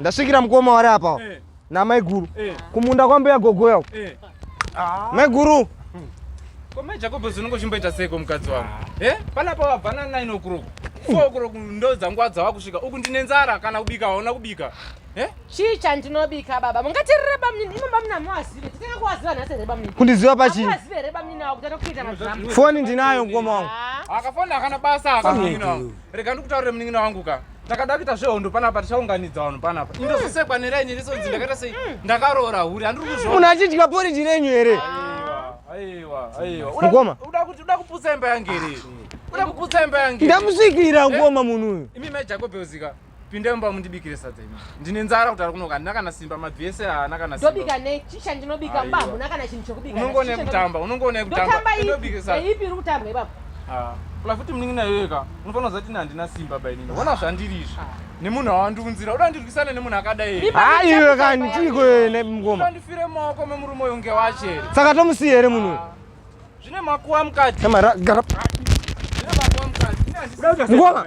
Ndasvikira mukoma wari apa eh. namaiguru eh. kumunda kwambuya gogoya uko eh. ah. maiguru komai jakobo zvinongo chimboita seiko mukadzi wangu e eh? panapa wabva nanaini okuroku fo okuroku ndo dzangu adzava kusvika uku ndine nzara kana kubika hauna kubika eh? chii chandinobika baba mungatirira bamnini imo bamnini amuazive titanga kuwaziva nhasi here bamnini kundiziva pachii amuazive here bamnini awo kutanga kuita mazvamu foni ndinayo mukoma wangu ah. akafona akana basa akamina rega ndikutaurire munin'ina wangu ka takada kuita zvehondo panapa tichaunganidza vanhu panapa indozosekwa neraini risonzi ndakaita sei ndakaroora huri handiri kuzvo munhu achidya poriji renyu here mukoma uda kuputsa imba yangu here uda kuputsa imba yangu ndamusvikira mukoma munhu uyu imi mai jacob uzika Pinda mumba mundibikire sadza imi. Ndine nzara kutara kunoka handina kana simba mabvi ese haana kana simba. Ndobika nei? Chii chandinobika mba hamuna kana chinhu chokubika. Unongoona yekutamba, unongoona yekutamba. Ndotamba ipi? Ndaipi iri kutambwa ipapo? Ah, kula futi muningi nayo yeka. Unofanira kuzati ina handina simba by nini. Vona zvandiri izvi. Ah. Nemunhu awandiunzira, uda ndirwisane nemunhu akadai here? Ah, iwe kani chii kwe ne mngoma. Ndifire maoko memurume uyo nge wacho here? Saka tomusiye here munhu? Ah. Zvine makuwa mukati. Kamara gara. Zvine makuwa mukati. Ngoma.